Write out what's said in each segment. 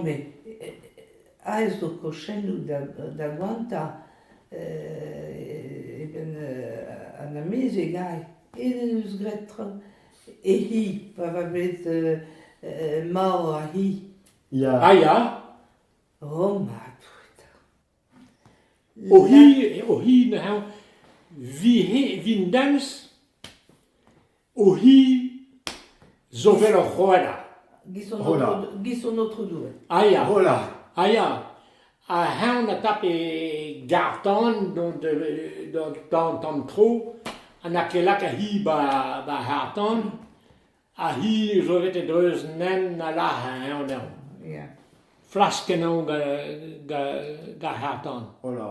Met aes zo kochennoù da goantañ eben an amezeg all. Aet en deus graet tra e hi pa oa bet marv ar c'hi. Ah ya? O ma touta! O hi, eo hi neuze, vi-dams? Ouhi zo wel oc'h hola. Gis hon Aotrou Doue. A ya. Hola. A ya. Ha heñ na tap e garr-tan d'an tamm tro ha na ket lak hi ba harr-tan. Ha hi zo bet e dreuz nen na lac'h heñ anezhañ. Flas kenañ gant ar harr-tan. Hola.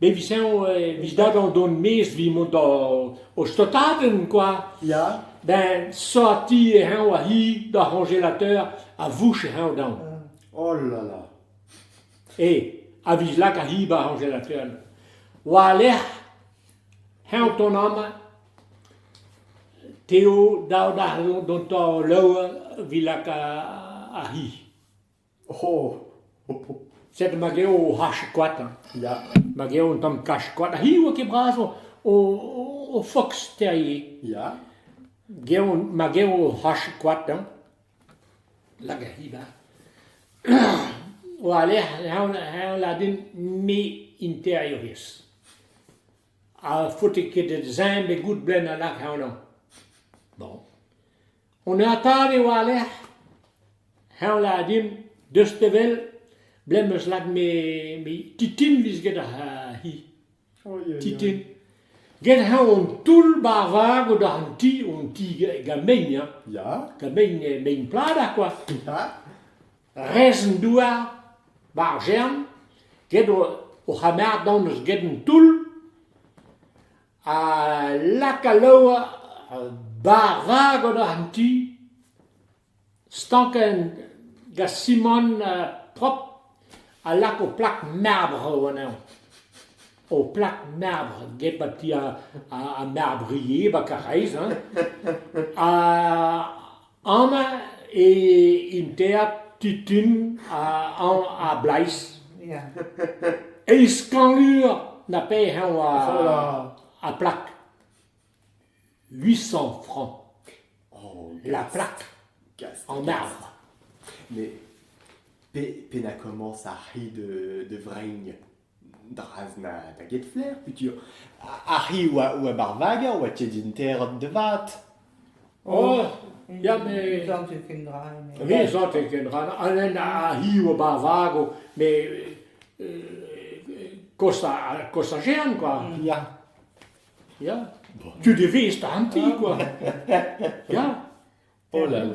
Me vis eñ e vis dadoù d'hon maez 'vit mont d'o stotadenn kwa. Ya. Ben sorti e eñ war-hi d'ar c'hoñjelateur ha vouch e eñ daon. Oh là là. E a vis lakaat-hi 'ba ar c'hoñjelateur. War-lerc'h eñ o tont amañ, Teo dav dezhañ dont'o loer 'vit lakaat ar c'hi. Oh, sed ma geo o c'hach koad, ya, ma geo un tamm kach koad, ha hiziv eo ket bras o foks terrier. Ya. Geo, ma geo o c'hach koad, hag a hiziv o alec'h heñladenn me interiourez. Ha faote ket da zeñb e goud blez a lak heñlañ. Bon. Honnezh-tad eo a-lec'h heñvel eo dimp deus te wel. Blez 'm eus lakaet me Titin 'vez get hi. Titin. Get-heñ on toull-bavag o doa an ti, an ti gamein hañ. Gamein mein pladañ kwa. Rez-an-douar, ba'r Jern. Get o c'hamardon eus get an toull. Ha lak al loar bara gant an ti, stankenn gant simant propr, ha lak ho plak marbr anezhañ. Ho plak marbr get ma ti ar marbr ivez, 'ba Karaez hein. Ha Amañ eo an teatr Titun a Bleiz. Eizh kangleur na pet hañv a plak. Huit cent francs la plak an arbre. Mais penañ komañs ar c'hi de Vreizh? Draz na da ket flaer futur. Ar c'hi oa oa ba'r vager oa tiet din terat da vat. Oh ya me... Santet ken dra eme. Oui santet ken dra na an en ar c'hi oa ba'r vago me kosta kosta jean quoi. Ya. Ya. Tu de vezh 'ta an ti quoi. Ya. Oh là là.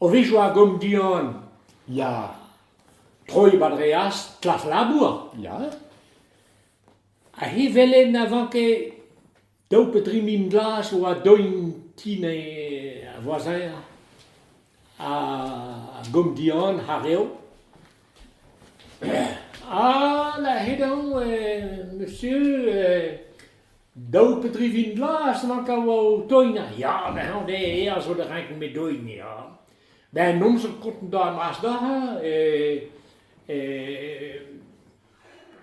O vizioù a gom Dion ya. Troiñ 'ba dre as klas labour ya. Ha hi 'wele na van ket daou pe dri mil glas a oa doin ti-ne ar voasin a gom Dion ha rev. Ha 'la he-daou monsieur Daou pe dri vin glas a vanka oa o toina, ya, bezañ eo aes zo da renken me doin, ya. Ben an amzer kontañ a-bras-dac'h e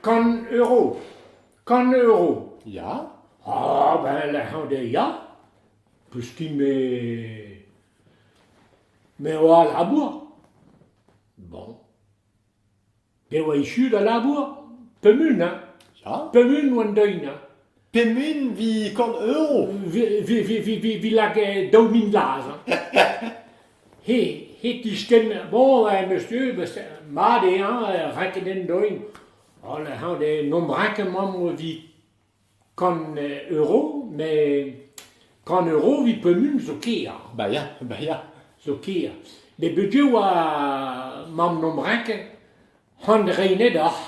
kant euro, kant euro, ya. Ah ben lec'h eo ya, koustum-me me oa al labour. Bon. E oa echu da labour ? Pemund hein ? Ya ? Pemund oan deuet hein ? Pemund 'vit kant euro ? Vi lak daou mil lazh hein. He he tiskenn bon em eus tu beus mat eo hein renket en doin. Holl ec'h an d'e nomp renket 'maomp o vi. Kant euro met kant euro evit pemp zo ker. Bah ya, bah ya, zo ker. Met bugel oa mamm Nombrec, c'han reinet oc'h.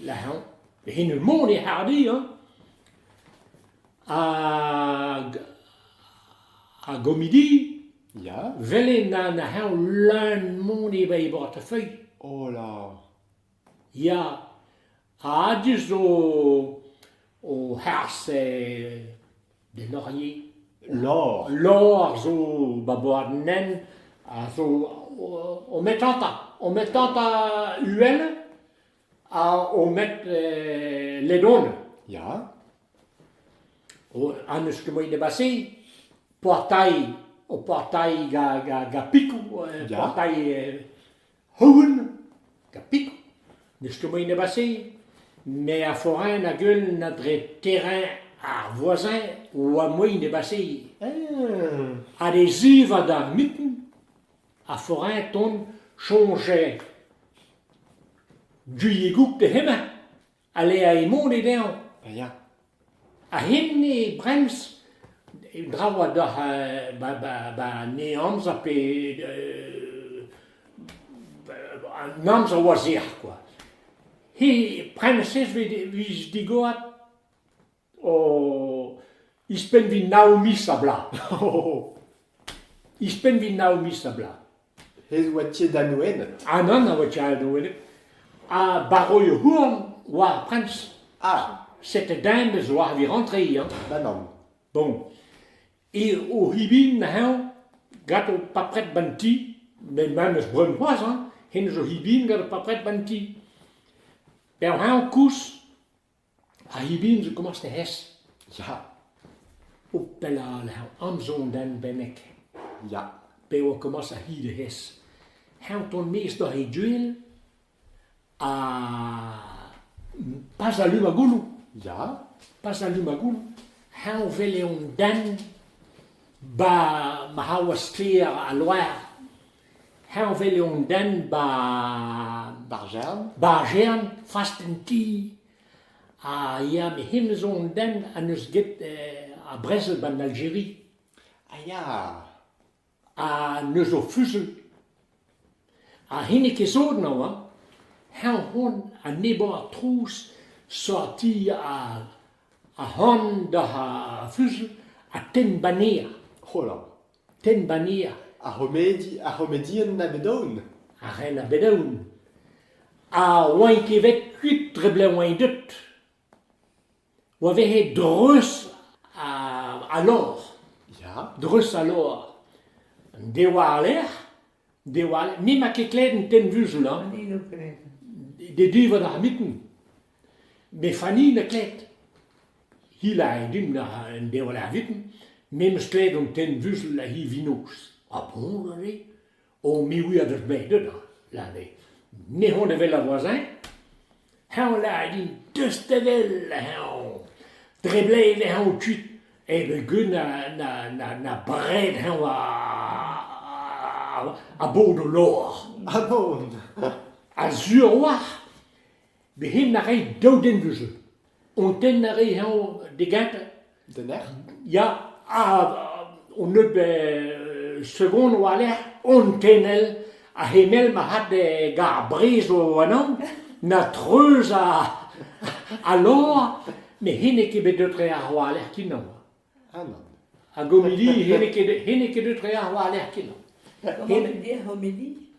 La hañv, he n'eus mont e hardi hein. Hag ar gomidi, Ya. vel eo na na hañv leun mont e bei bortefeuille. Oh là. Ya, a-du zo o harz d'en Orier. Lor. Lor zo ba boad nen a zo o met tanta, o met tanta uhel ha o met ledon. Ya. An eus ket moai debase, portail, o portail ga pikou, portail Hogen, tapit, ne stumo nep a se, me a forain a geuln dre terrain ar voisin 'oa mui nep a se. Ha d'e zivad ar miten, a forain tont soñjal duigoù d'he hemañ. Aleañ emaon e-neñv, a ya. Ha hini Brens, draoù a dalc'h ba an amzer pe an amzer war-zerc'h kwa. He Prensez 'vez digoret. Oh, ouzhpenn vit nav miz a-blaz, ouzhpenn vit nav miz a-blaz. He oa tiet da Noened. An an a oa tiaet da welet. Ha barroy houarn war ar prins. Ah, Cette dame zo arvir rentre hi, hein. da nann. Bon. E o hibin heñ, gant o papret ban ti, met ma neus breun c'hoazh, hein, hen zo hibin gant o papret ban ti. Pev heñ koulz, Ha e-bihan zo komañs da hes ya, o pellañ lec'h amzer denvennek ya, p'eo e komañs ar c'hi da hes. Eñ ton-maez doc'h e gouel ha pas a-lu ma gouloù, ya, pas a-lu ma gouloù. Eñ o welet an den 'ba ma c'haouaz sklaer al loar. Heñvel eo an den ba'r jern, ba'r jern fast an ti, ha ya met hennezh zo an den en deus get ar brezel ba'n Aljeri. A ya. Ha neuz o fuzuilh. Ha hini ket sot emañ hañ, heñ c'hoant enebañ ar trouz sortiñ ar c'han doc'h ar fuzuilh ha tenn baneer. Hola. Tenbania. Ar c'homedi, ar c'homedienn a bet aon. Ar ren a bet aon. Ha oain ket bet kuit dre blev oain deut. Oa vehe dreuz ha, ha lor. Ya. Dreuz ha lor. An dewa ar lec'h, Diwall, me 'ma ket klevet an tenn-vuzul hañ. Dedivot ar miten. Me Fanny 'na klevet. Hilañ din an deol ar miten, me 'meus klevet an tenn-vuzul ha hi vinoz. Ha boñ aze, o mirout a deus bet deut hañ, lâret eo. Me 'hont evel a voasin. Heñvelay din deustadell hañv. Dre bled eh añv kuit eh vez good na bred hañv a-bod o lor. A-bod? A-sur oac'h bez' hen a ray daou den deus-se. Hon tenn a ray hañv d'e gentañ Den ec'h? Ya, ha un nebeud segon war-lerc'h on tenel ha hennezh marc'had gant ar brizh ennañ na treuz al lor met hennezh ket bet deut tre àr war-lerc'h kenañ. Ah nann. Hag homili hennezh ket deut tre àr war-lerc'h kenañ. Homili, homili.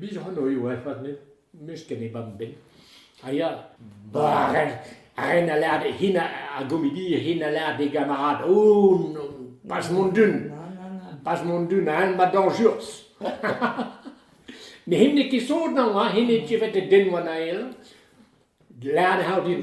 Biz hanoiu avat met n'eus ken e bab-benn a ya bah ren a lâr hin a gomedi hin a lâr d'e gamarad o bas mont d'un bas mont d'un ha ma dañjurs met hin n'eo ket sot nañ hein hin eo tievet e den wan ael lâret eo din